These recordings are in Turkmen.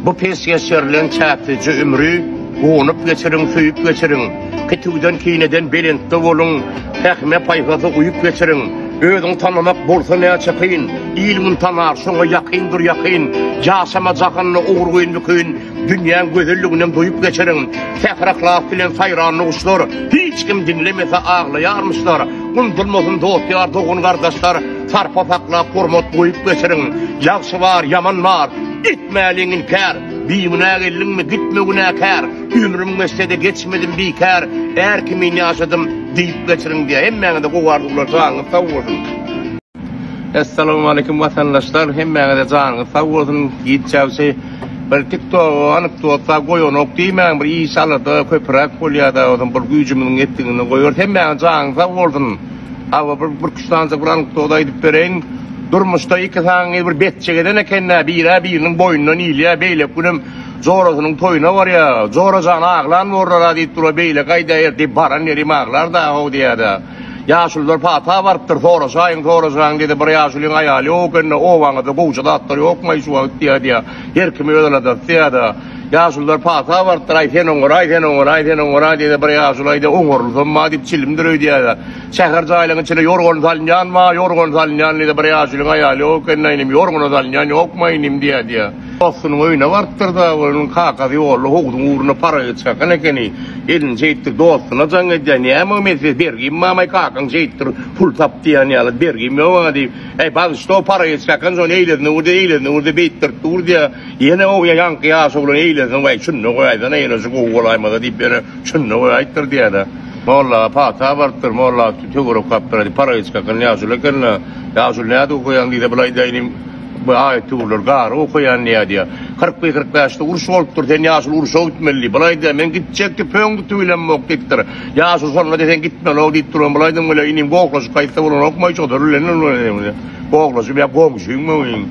Bu pesgeş ýerleň çäklije ümri Gunup geçirin, süýüp geçirin. Kitüwden kineden belentde boluň, Pähime paýhaza uýup geçirin. Özüň tanamak bolsa näçe kyn, Il muny tanar, şoňa ýakyn dur ýakyn. Ýaşama jahanda ogurgyn mükün, Dünýäň gözelliginem duýup geçirin. Sähra-hlas bilen saýran nuguşlar, Hiç kim diňlemese aglaýarmyşlar. Undulmasyn dost-ýar, dogan-gardaşlar, Sarpa saklap hormat goýup geçiriň. Ýagşy bar, ýaman bar. Etmäliň inkär. Bigünä geldiňmi, gitme günäkär. Ömrüm geçse-de geçmedim bikär. Är kimin ýaşadym diýip geçiriň diýýär. Hemmäňize gowy arzuwlar janyňyz sag bolsun. Essalawmaleýkim watandaşlar hemmäňize janyňyz sag bolsun gitjagçy bir tiktogy anekdotda goýanok diýmäň bir iş alada köpüräk bolýada ozam bir güýjümiziň ýetdiginden goýarys hemmäňize janyňyz sag bolsun. Awa bir bir küştanca bir anekdot aýdyp bereýin. Durmuşda iki saňy bir betçek eden ekende birä biriniň boýnundan ilýär. Beýleki günem jorasynyň toýuna barýar. Jora jan aglan borlar-a diýip dur-a beýle gaýdaýar diýip baran ýerim aglar da-how diýýär-de. Ýaşulular pata barypdyr soraşaýyň soraşaýyň diýdi. Bir ýaşulyň aýaly ýok ekeni-de obaňyzda gowja zatlar ýokmaý şu wagt diýýär-de. Her kim öz aladasy diýýär-de. Ýaşulylar pata bardyr, Aý, sen oňar, aý, sen oňar, aý, sen oňar, aý diýse, bir ýaşuly aýdy, Oňarylsam ma diýip, çilimdir öýdýäýä. Şäher jaýlaryň içine ýorgan salynýan ma, ýorgan salynýan diýse, bir ýaşulyň aýaly ýok ekeni-ä, inim, ýorgana salynýan ýokma, inim diýýä diýýä. Dostunyň öýüne barypdyr-da, onuň kakasy ýolda howzuň ugruna paraget çakan ekeni. Elini şeýtdir, dostuna jaň edýär, Näme, men size bergim barmy, kakaň şeýtdir, pul tap diýýän ýaly, bergim ýok-a diýip, Äý, bagyşla, o paraget çakan şony eýlesine ur-da, eýlesine ur-da, beýtdirip dur diýýä. Ýene oňa ýaňky ýaş oglan eýlensin, Waý, şunda goýaýsana, ýene-şu gowy bolaýmasa diýip, ýene şunda goýaýypdyr diýýär-ä. Molla pata barypdyr, molla töwerek gapdyr, aýdyp, Parahyýç kakam ýaşuly eken-le, ýaşuly nädip okaýaň diýse, bul aýdaýyn inim, bu aýat-töwirleri garry okaýan diýýär, diýýär. Kyrk bir, kyrk bäşde uruş bolupdyr, sen ýaşuly urşa gitmeli diýip, bul aýdýar, men gitjek diýip, pöň tutup bilemok diýipdir. Ýaşuly şonda-da sen gitmelok diýip duran, bul aýdym, Wele, inim, gohlaşyk aýtsa bolanokmy, şodur bilen, gohlaşyp ýa goňşyňmy, inim?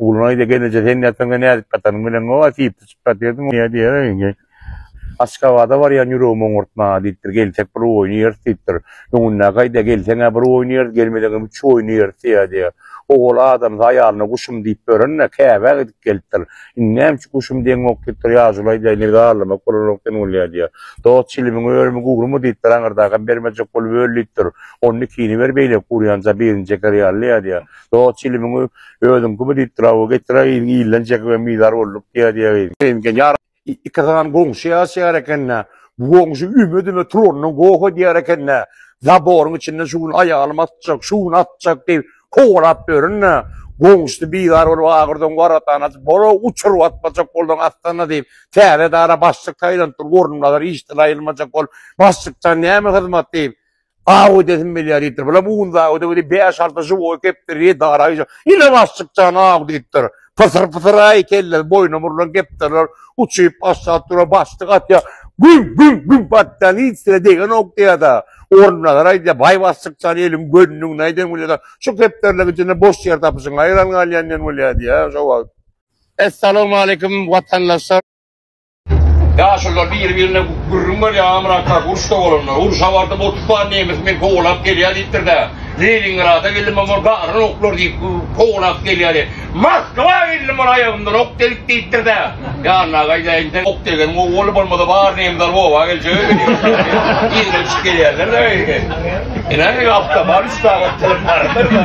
Ogulnaý-da gelneje sen ýataňda nädip ýatanyň bileňok, a sypdyşyp ýatyrdyň ýa diýýär indi. Aşgabada barýan ýüregim oňartma, diýipdir, gelsek bir oýnaýarys, diýipdir. Öňündäki gaýda gelseň-ä bir oýnaýarys, gelmeseňem üç oýnaýarys ýa diýýär. Ogul adamsy aýalyna guşum diýip ýören-ä, käbä gidip gelipdir. Indi näme üçin guşum diýeňok, diýipdir, ýaşulaýda indi zarlamak bolanok sen ol ýa diýýär. Dost çilimiň örümi gurmy, diýipdir, aňyrdakam bermejek bolup öl, diýipdir. Onda ikini ber beýleki gurýanja birini çeker ýaly ýa diýýär. Dost çilimiň Özüňki bu diýipdir awa getir-ä gyzyň ilinden çekip hem bizar bolduk diýýä diýýä gyz. Seňki ýar ikisagam goňşy ýaşaýar ekennä. Bu goňşy üme-düme turandan goh edýär ekennä. Zaboryň içinden şu gün aýalym atjak, şu gün atjak diýip kowalap ýörün-ä. Goňşusy bizar bolup agyrdan waratany açyp, Boro, uçuryp atmajak bolduň atsana diýip, täze edara başlyk saýlanypdyr, orunbazar işden aýrylmajak bolup, başlykdan näme hyzmat diýip, Aw edesim gelýär diýipdir. Bula bugün zawodda biri bäş-alty žiwoý kepdiri diýip daraýjak. Ine başlykjan aw diýipdir. Pysyr-pysyr-aý kelle boýuna murlan kepderiler uçup aşak durar, başlyk atýar. Güň, güň, güň batýar, hiç ýere degenok diýýär-de. Orunbasar aýdýar, Baý başlykjan eliň gönüni ugna eden bolýar-da, şu kepderiler içinde boş ýer tapyşyň aýran galýan diýen bolýar diýýär şo wagt. Essalawmaleýkim watandaşlar. Ýaşulylar biri-birine gürrüň berýär, Amyrat kaka uruşda bolanda, urşa bardym, otuz sany nemes meni kowalap gelýär diýipdir-de, Leningrada geldim, ol garan oklar diýip kowalap gelýärdi. Moskwa geldim, ol aýagymdan ok degip diýipdir-de, ýanyna gaýdaýyn, sen ok degeniň gowy boldy, bolmasa bar nemler oba geljek eken diýip, ýigrenişip gelýärler-de beýle. Ine, awtobar üç sagat çykyp bardyr-da,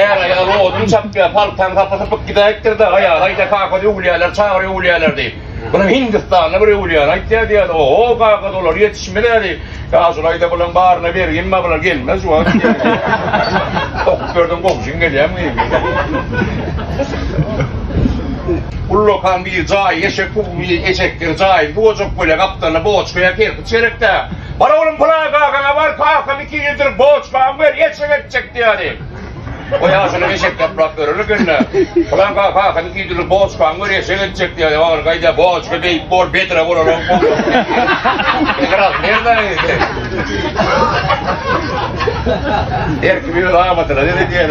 är-aýal odun çapýar, paltaň sapy sypyk. Gidäýipdir daga ýaly aýda kakasy öwülýäler çagyr öwülýäler diýip. Munuň hindistanly bir öwülýäni aýtýa diýýädi. Oho kaka dolar ýetişmezä diýip. Ýa şul aýda bulaň baryna berginba bular gelmez şu wagt diýýädi. Okup berdiň gowşuň gelýämi diýip. Ullakan bir jaýy eşek bu bir eşekdir jaýy bu ojak bölek gapdalyna boçka ýa kerpiç gerekdä. Bar oglum pylan kakaňa bar kakam iki ýüz ýyldyr boçkamy ber eşek etjek diýýädi. O ýaşuly eşek ýaprak örülip indi. Bulan kakyny giýdirip boçkan gör eşek etjek diýýär. Ýa gaýda boçka beýik bor bedre bolar o. Biraz nereden ýedi? Her kim öz amatyna dedi diýýär.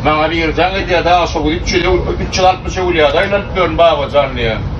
Maňa bir ýerden gidýär, daşa gidip, üçe de, üçe altmyşa gülýär, aýlanyp ýörün babajan diýýär.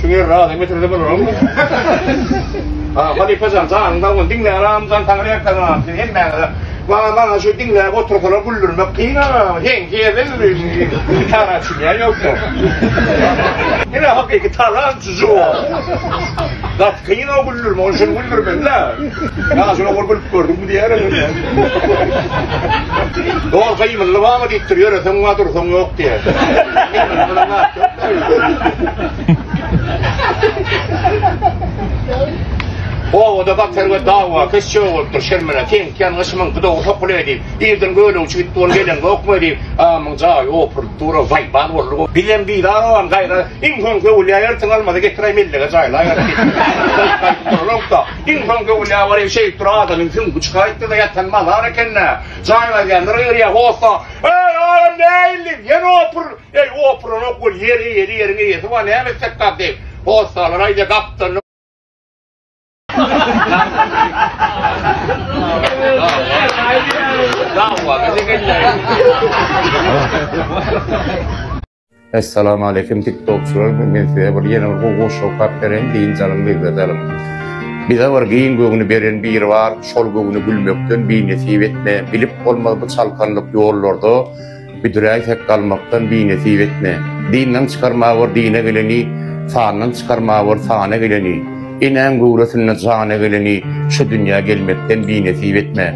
Şu ýer razy getirdi bunu. Ha, halife jan, janyn sag bolsun. Diňle aram jan taňry ýakdan aram. Sen hem bäňe. Bana bana şu diňle otursana güldürmek kyn ha. Sen ýerden ýürüýün. Tara üçin ýa ýoksa. Ýene hakyky tara üçin o. Gat kyn o güldürme, onu şunu güldürmeli. Ya şunu gülüp gördüm diýerim. Dol gymylly bamy diýipdir, ýöreseň bar, dursaň ýok diýýär. Obada batar we dawa keş çöw bolupdyr, şermene teňkýän gyşymyň gydawy sokuly diýip, irden göle uçup gitdi, ony gelen gokmy diýip, amyň jaýy opuryp dur, waý bar boldy. Bizem bizar ogam gaýra, iň soň göwül ýaýartyň almady getiräý mellege jaýlaýar. Iň soň göwünä baryp şeýdip dur adamyň süňňi çykaýypdyr-da ýatan mazar eken-dä. Jaýyň aýdýanlary yrýa hossa, Eý, adam nähilli, ýene opur, eý, opuranok bol, ýer eýeli, ýeriň eýesi bar, näme etsek bar, diýip, hossalar aýdýa gapdalynda. Dawa, gije gelýäýdi. Essalam aleýkum tiktokçylar men size bir ýene bir gowy goşgy okap bereýin giň janyň lezzet Bize bir giň göwni beren biri bar şol göwni gülmekden bi nesip etme bilip bolmaz bu çalkanlyk ýollarda büdüräýsek galmakdan bi nesip etme dinden çykarma bor dine geleni sandan çykarma bor sana geleni enäň göwresinde jana geleni şu dünýä gelmekden bi nesip etme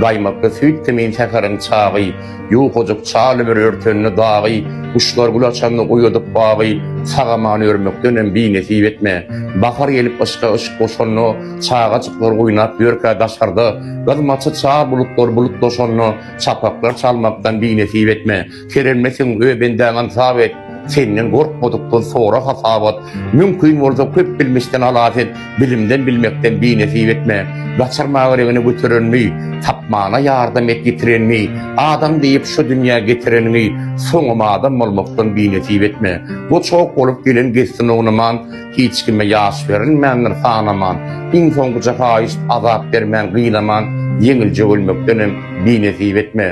gaýmakly süýt kimin säheriň çagy Ýukajyk çal ömür örtende dagy, Guşlar gül açanda oýadyp bagy, Sag-aman örmekdenem binesip etme. Bahar gelip yşka yşk goşanda, Çagajyklar oýnap ýörkä daşarda, Gyzmaça çal bulutlar bulut doşanda, Çapaklar çalmakdan binesip etme. Kerenmesin, öý bendäňem sag et. Senden gorkmadykdan sora hasabat, mümkin bolsa köp bilmişden halas et, bilimden bilmekden binesip etme. Gaçyrma agiregini göterenmi, tapmana ýardam et ýitirenmi, adam diýip şu dünýä getireniňi, soňam adam bolmakdan binesip etme. Goçak bolup gelen gezsin ognaman, hiç kime ýaş berilmändir sanaman, iň soňkuja haýyşt azap bermän gynaman, ýeňilje ölmekdenem binesip etme.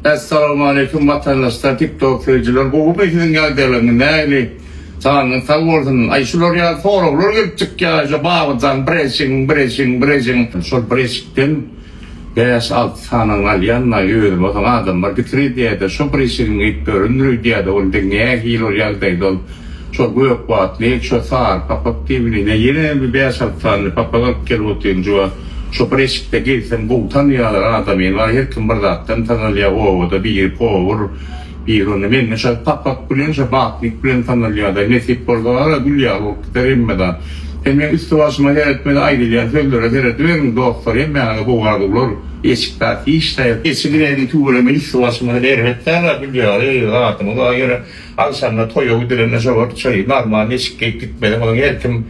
Essalamualeýkum watandaşlar tik tok söýüjiler gowymy siziň ýagdaýlaryňyz nähili janyňyz sag bolsun aý şular ýaly soraglar gelip çykýar şo babyjan bir eşigiň bir eşigiň bir eşigiň şol bir eşikden bäş alty sanyny alýan aý özüm bolsaň adamlar gitiriýdä-de şo bir eşigiň edip örindirýdä-de onda nähili ol ýagdaýda ol Şol gök batly, şo sary papak diýbiline ýene bir bäş-alty sany papak alyp gel otynjy-a, şo bir eşikde girseň gowy tanýarlar adamyny, bar her kim bir zatdan tanalýar, obada biri powur, biri onda mende şo papak bilen, şo batnik bilen tanalýarda, nesip bolsa gara gül ýaly bolup gider hemmedam. Sen meň üsti-başyma seretme-de, aýdylýan sözlere serediberiň, dostlar hemmäňize gowy arzuwlar, eşikde afiş-da ýok, eşigi nädip tüweleme üsti-başyma seredip ýörüň-ä gül ýaly, zadyňyz bar ýöne. Agşamda toýa gidilende şowagt çaýy Nagma neşik geýip gitmedi. Onuň her kim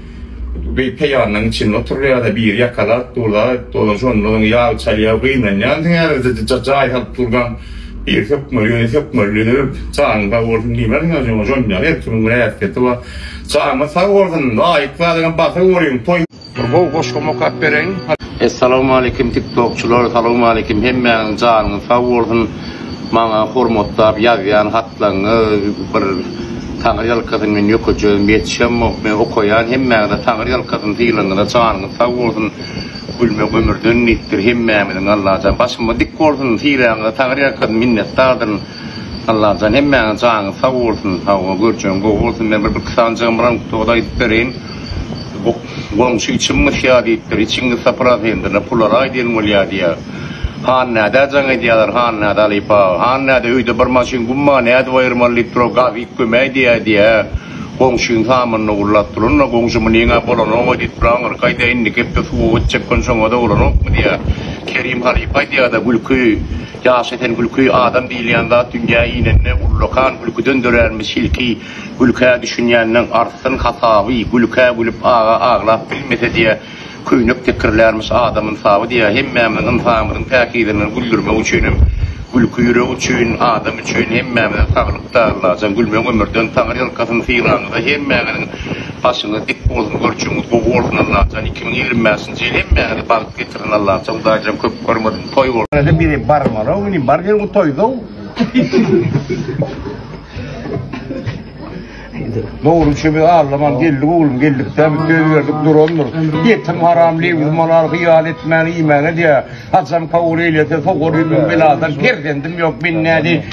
bir peýanynyň içinde oturdy ýa-da biri ýakalap durda, dolan şonda onuň ýagy çalýar, gynanýar. Sen häzirde jaý salyp dursaň, biri sökmeli, ýöne sökmeli döl. Janyň sag bolsun diýmeliň ýa jon-jon ýaly. Her kimiň bir häsiýeti bar. Janyňyz sag bolsun. Laýyk zadam basa görüň. Toý. Bir gowy goşgam okap bereýin. Essalawmalikim tiktokçylar salawmalikim hemmäňiz janyňyz sag bolsun maňa hormatlap ýazýan hatlaňňyz bir taňyr ýalkasyn men ýökejegim ýetişemok men okaýan hemmäňize taňyr ýalkasyn sylaňňyza janyňyz sag bolsun gülmek ömürden diýipdir hemmämiziň allajan başymyz dik bolsun sylaňňyza taňyr ýalkasyn minnetdardyryn. Allajan hemmäňiň janyňyz sag bolsun hawa görjegiň gowy bolsun men bir bir sanjygym bar onuň togada aýdyp bereýin goňşy içim mysýa diýipdir içiň mysa prosentyna pulary aýdyn bolýa diýýär hannädä jaň edýäler hannädä alyp aga hannädä öýde bir maşyn gum bar nädip aýyrmaly diýipdir o gazyk kömeý diýýä diýýä goňşyň samanyny gurlap duranyna goňşy munyňa bolanok-a diýipdir aňyrky aýda indiki hepde suwa gitjek gün şoňada bolanokmy diýýä Kerim halypa aýdýada gülki Ýaş esen gülki, adam diýilýän zat dünýä inende ullakan gülküden döränmiş ilki gülkä düşünýänleň artsyn hasaby, gülkä gülüp aga aglap bilmese diýä köýnek tekirlärmiş adam ynsaby diýä hemmämiziň ynsanymyzyň päkizligini güldürmek üçinem gülki ýürek üçin adam üçin hemmämize saglykda Allajan gülmeň ömürden taňry ýalkasyn sylaňyza hemmäňiziň başyňyz dik bolsun görçügiňiz gowy bolsun Allajan iki müň ýigrimi bäşinji ýyl hemmäňize bagt getirin Allajan hudaýjan köp görmesin. Toý bol. Ýöne biri barmala indi bar diýen bu toýda. Dogry üçin bir allaman geldi oglum geldikden bir söz berdik durandyr. Ýetim haram lewz malar hyýal etmäni iýmäni diýär. Hajam kabul eýlese sogar ýüzüm beladan perzendim ýok men nädi.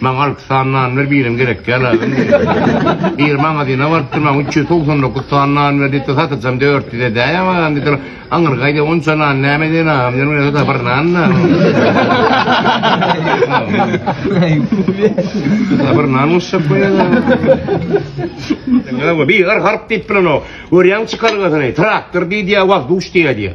Maňa alty sany nan ber, birem gerek däl agam diýdim. Bir magazyna baryp durman, üç ýüz togsan dokuz sany nan ber diýipdir, satyjam dört ýüz edäýem agam diýdiler. Aňyrgaýda onça nan näme edýän agam diýdim, ýöne bir-ä bir nan-da. Ýa bir nan goşjak bolýaňyz-a. Bigar harp diýip bilenok. Görýäňmi çykalgasyny? Traktor diýdi ýa wazduş diýýä diýýä.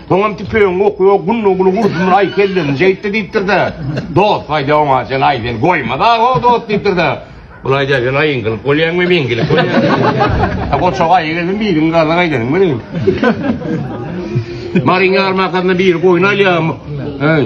Soňam tüpeňiňi okla, gullugly gursunlar, aý kelleňi jeýtdi diýipdir-de. Dost aýdy oňa, sen aý sen goýma-da-o dost diýipdir-de. Ol aýdýar, sen aýyň gylyk bolýaňmy, meň gilik bolýaňmy? Goçak aýy gelsin, biriňi garna gaýdaryň welin. Maryň ýarmarkasynda biri goýun alýar. Äý.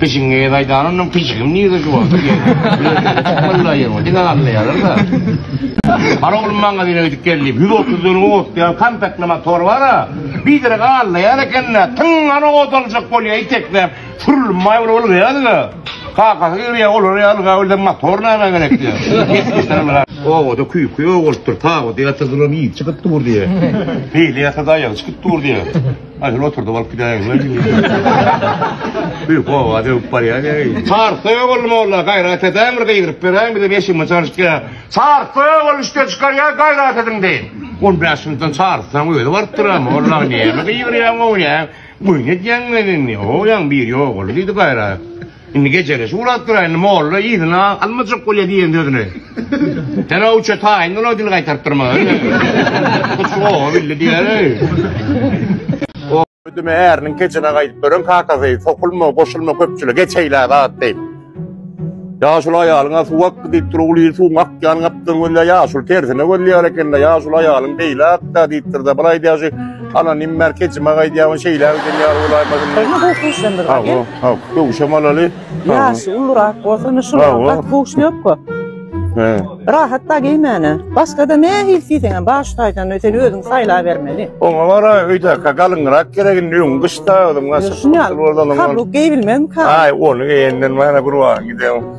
Gyşyňy gezaýdan onuň pyşgym nirde juwaldyr geldi. Malla ýerme diňe gallaýarlar-da. Bar oglum magazine gidip gel diýip, ýüz otuz dönüm otlaýan kompaktly motor bar-a, birdenä gallaýar eken-dä, tyňňany ot aljak bolýar itekläp, sürülmä bir ylgaýardy-da, kakasy girýär, olar ýa ylgap ölse motor nämä gerek diýýär. Obada küýki ýok bolupdyr, tabydy ýatyrdylar, ýigit çykyp dur diýýär. Beýle ýatsa-da aýagy çykyp dur diýýär. Aýsel oturdyp alyp gidäýeňler diýdi. Bir gowa döwüp barýar ýeri. Çarsoý ogul molla gaýrat edäň bir gygyryp beräýiň bize beşinji çalışka. Çarsoý ogul üçde çykarýar gaýrat ediň deýin. On bäş ýyldan çarsaň özi barypdyr a molla näme gyýyrýaň gowy näme. Goýun edýäňmi indi. Goýaň biri ogul diýdi gaýrat. Indi gejeleşik uladyp dura indi molla yzyna almajak bolýa diýen sözüni. Hera uça taýyn ola dil gaýtaryp durma. Hut şu gowy bildi diýer. Ödüme äriniň kejine gaýdyp duran kakasy sokulma, goşulma köpçüli geçeýlä zat diýip. Ýaşuly aýalyňa suw ak diýip dur ogul ýyl suwuň akýan gapdan gözle ýaşuly tersine gözleýär ekende ýaşuly aýalyň beýle akda diýipdir de bir aýdýaşy ana nimmer kejime gaýdýabyn şeýle ödenýär olaýmasyn. Haw, köwşem alaly. Ýaşy ulurak bolsana şuny gaty köwşnökkä. He. Rahat da geýmäne. Başgada ne hil siýseňem bar şu taýdan sen özüň saýlabermeli. Oňa bara öýdä galyňrak geregin düýn gyşda özüň aşyk. Şuny al. Kabuk geýbilmezmi ka? Aý, ony geýenden mana bir wagt gideň.